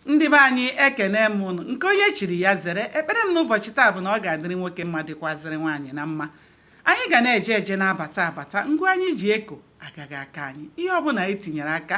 ndị be anyị ekene m ụnụ nke onye chiri ya zere ekpere m n'ụbọchị taa bụ na ọ ga-adịrị nwoke mma dịkwazịrị nwaanyị mma anyị ga na-eje eje na-abata abata ngwa anyị ji eko agaghị akọ anyị ihe ọbụla anyị tinyere aka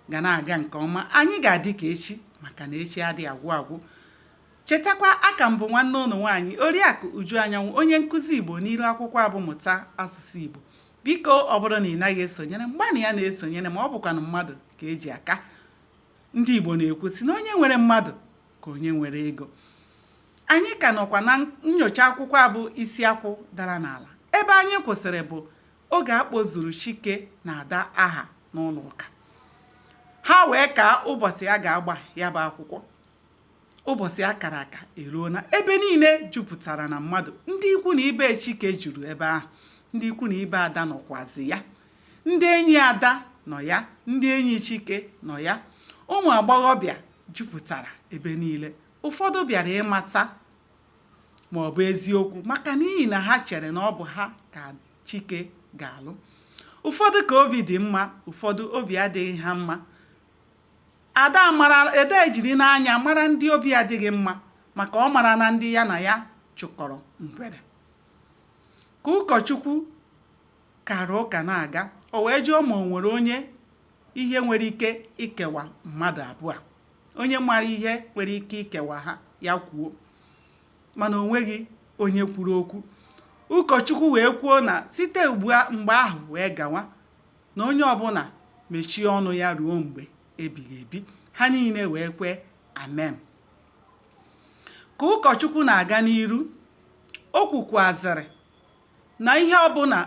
ga na-aga nke ọma anyị ga-adị ka echi maka na echi adịghị agwụ agwụ chetakwa aka m bụ nwanne ụnụ nwaanyị oriakụ uju anyanwụ onye nkụzi igbo n'iru akwụkwọ a bụ mụta asụsụ igbo biko ọ bụrụ na ị naghị esonyere m gbanịa na-esonyere ma ọ bụkwanụ mmadụ ka eji aka ndị Igbo na-ekwu sị na onye nwere mmadụ ka onye nwere ego anyị ka nọkwa na nyocha akwụkwọ a bụ isi akwụ dara n'ala ebe anyị kwụsịrị bụ oge a kpọzuru Chike na Ada aha n'ụlọ ụka ha wee kaa ụbọchị a ga-agba ya bụ akwụkwọ ụbọchị a kara aka eruona ebe niile jupụtara na mmadụ ndị ikwu na ibe Chike juru ebe ahụ ndị ikwu na ibe Ada nọkwazi ya Ndị enyi Ada nọ ya, ndị enyi Chike nọ ya. Ụmụ agbọghọbịa jupụtara ebe niile. Ụfọdụ bịara ịmata ma ọ bụ eziokwu maka n'ihi na ha chere na ọ bụ ha ka Chike ga-alụ. Ụfọdụ ka obi dị mma, ụfọdụ obi adịghị ha mma. Ada ejiri n'anya mara ndị obi adịghị mma maka ọ mara na ndị ya na ya chụkọrọ ngwere. Ka ụkọchukwu kara ụka na-aga o wee jụọ ma o nwere onye ihe nwere ike ikewa mmadụ abụọ onye mara ihe nwere ike ikewa ha ya kwuo mana o nweghị onye kwuru okwu ụkọchukwu wee kwuo na site ugbu a mgbe ahụ wee gawa na onye ọbụla mechie ọnụ ya ruo mgbe ebighị ebi ha niile wee kwee amen ka ụkọchukwu na-aga n'iru o kwukwazịrị na ihe ọbụla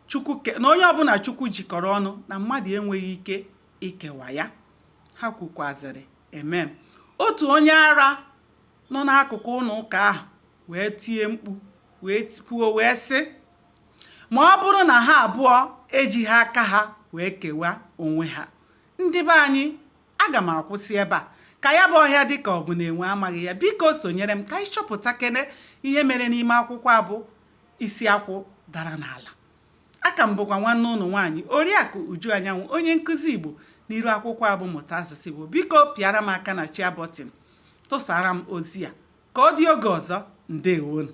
Chukwu na onye ọbụla Chukwu jikọrọ ọnụ na mmadụ enweghị ike ikewa ya ha kwukwazịrị amen otu onye ara nọ n'akụkụ ụlọ ụka ahụ wee tie mkpu wee kwuo wee sị ma ọ bụrụ na ha abụọ ejighị aka ha wee kewaa onwe ha ndị be anyị aga m akwụsị ebe a ka ya bụ ọhịa dị ka ọ bụ na enwe amaghị ya biko sonyere m ka anyị chọpụtakene ihe mere n'ime akwụkwọ a bụ isi akwụ dara n'ala aka m bụkwa nwanne ụnụ nwaanyị oriakụ uju anyanwụ onye nkụzi igbo n'iru akwụkwọ a bụ mụta asụsụ igbo biko pịara m aka na share button tụsara m ozi a ka ọ dị oge ọzọ ndewonụ